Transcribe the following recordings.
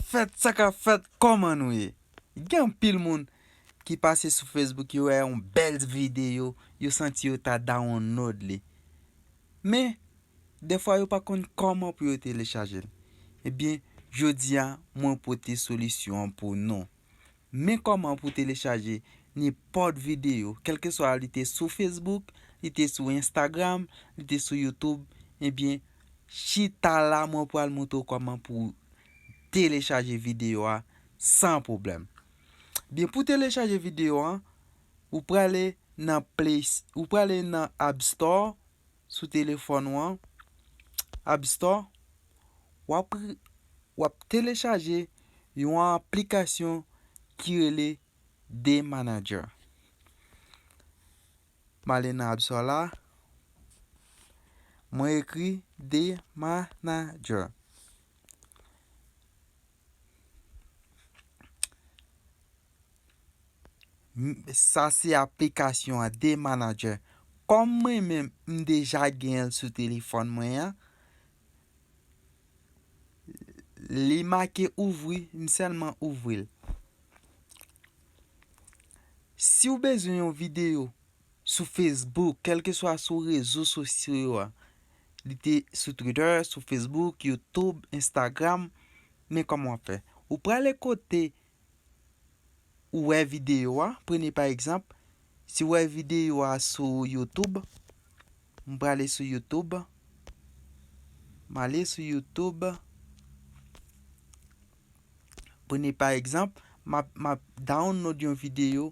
Fèt sa ka fèt kòman nou ye gen anpil moun ki pase sou Facebook yo wè yon bèl videyo yo santi yo ta dawonnod li men dèfwa yo pa konn kòman pou yo telechajel ebyen jodi a mwen pote solisyon an pou nou. Men kòman pou telechaje nenpòt videyo, kèlkeswa li te sou Facebook, li te sou Instagram, li te sou YouTube, ebyen chita la mwen pral montre w kòman pou telechaje videyo a san pwoblèm. Ebyen pou telechaje videyo an, ou prale nan Play, ou prale nan App Store, Sou telefòn ou an, App Store, w ap telechaje yon aplikasyon ki rele Day Manager. M ale nan App Store la, mwen ekri Day Manager. Sa se aplikasyon an day manager. Kòm mwen menm m deja genyenl sou telefòn mwen an. Li make ouvri m sèlman ouvril. Siw bezwen yon video sou Facebook, kèlkeswa sou rezo sosyo yo a, li te sou Twitter, sou Facebook, YouTube, Instagram, men kòman wap fè? Ou prale kote ou wè videyo a, premye pa egzanp, si wè videyo a sou YouTube, m prale sou YouTube, m ale sou YouTube, premye pa egzanp, map download yon videyo,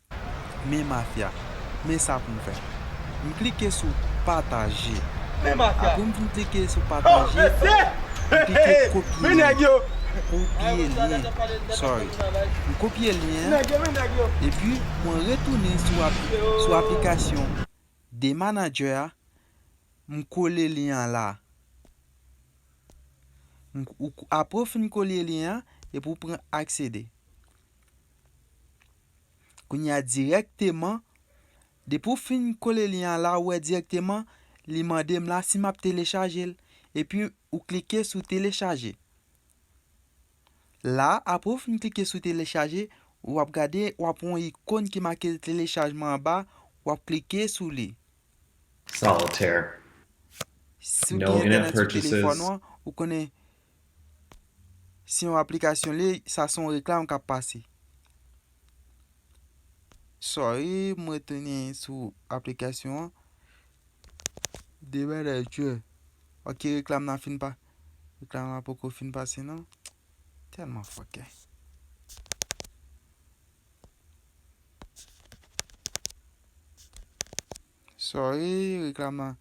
Men mafya. Men sa pou m fè. M klike sou pataje. Men mafya. Apre m fin klike sou pataje. Oh mesye! M klike kopye. Men nèg yo! Kopye lyen. Sorry. M kopye lyen an. Men nèg yo, men nèg yo! Epi mwen retounen sou aplikasyon Dmanager a. M kole lyen an la. Apre w fin kole lyen an, epi w pran aksede. Kounye a dirèkteman, depi w fin kole lyen an la ou wè dirèkteman li mande m la si m ap telechaje l. Epi ou klike sou telechaje. La a apre ou fin klike sou telechaje, w ap gade w ap wè yon ikon ki make telechajman anba a, w ap klike sou li. Solitaire. Si w gen entènèt sou telefòn ou an, ou konnen Se yon aplikasyon li sa son reklam kap pase. Sorry m retounen sou aplikasyon an. De bagay chou. Ok reklam nan fin pa. Reklam nan poko fin pase nan. Telman fokè. Sorry reklam lan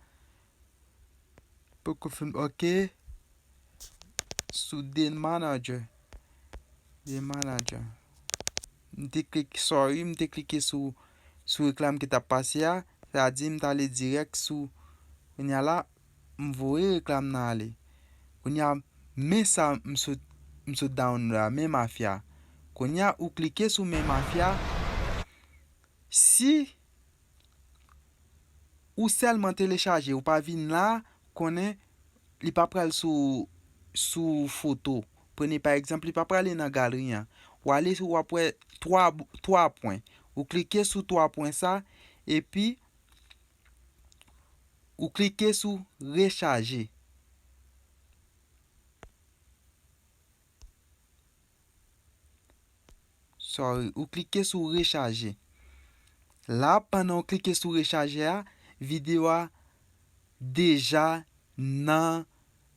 poko finn ok sou dmanager dmanager m te klike sorry m te klike sou sou reklam ki tap pase a sa a di m ta ale dirèk sou kounya la m voye reklam nan ale kounya men sa m sot m sot download la men mafya kounya ou klike sou men mafya si Ou sèlman telechaje ou pa vin la konnen li pa pral sou sou foto. Prene pa egzanp li pa prale nan galri an. Ou ale ou ap wè 3 3 pwen. Ou klike sou 3 pwen sa epi ou klike sou rechaje. Sorry, ou klike sou rechaje. La pandan ou klike sou rechaje a, video a deja nan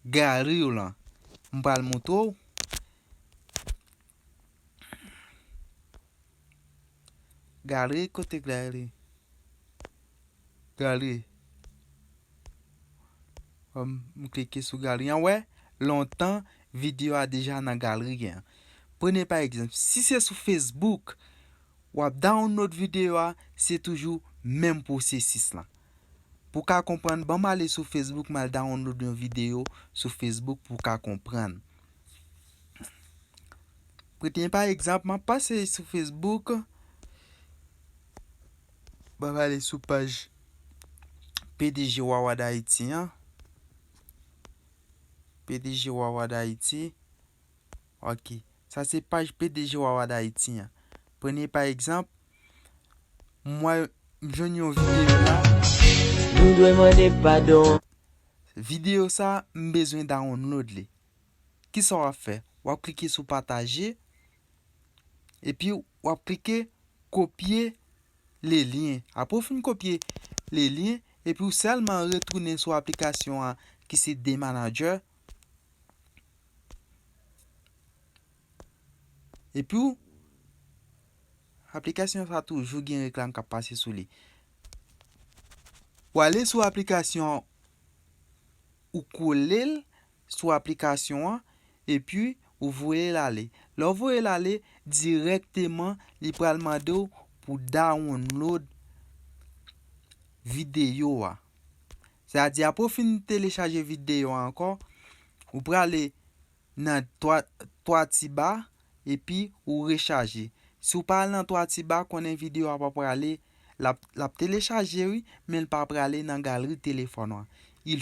gallery ou lan. M pral montre ou. Galri kote galri. Galri. M klike sou galri an wè lontan video a deja nan galri an. Prene pa egzanp si se sou Facebook wap download video a se toujou menm pwosesis lan. Pou ka konprann banm ale sou Facebook mal download yon video sou Facebook pou ka konprann. Pou tnye pa egzanp, m ap pase sou Facebook, m ap ale sou paj pdg Wawa Dayiti an, pdg Wawa Dayiti, ok, sa se paj pdg Wawa Dayiti an. Premye pa egzanp, m wè, m jwenn yon videyo la. Nou dwe mande padon. Videyo sa, m bezwen download li. kisa w ap fè? W ap klike sou pataje epi w ap klike kopye le lyen. Apre w fin kopye le lyen epi w sèlman retounen sou aplikasyon an ki se DManager epi w aplikasyon sa toujou gen reklam k ap pase sou li. W ale sou aplikasyon an ou kole l sou aplikasyon an epi ou voye l ale lè w voye l ale dirèkteman li pral mande w pou dawonlod videyo a se a di apre w fin telechaje videyo a ankò ou prale nan 3 ti ba epi ou rechaje si ou pa al nan 3 ti ba konnen video a pa prale lap lap telechaje wi menl pa prale nan galri telefòn an il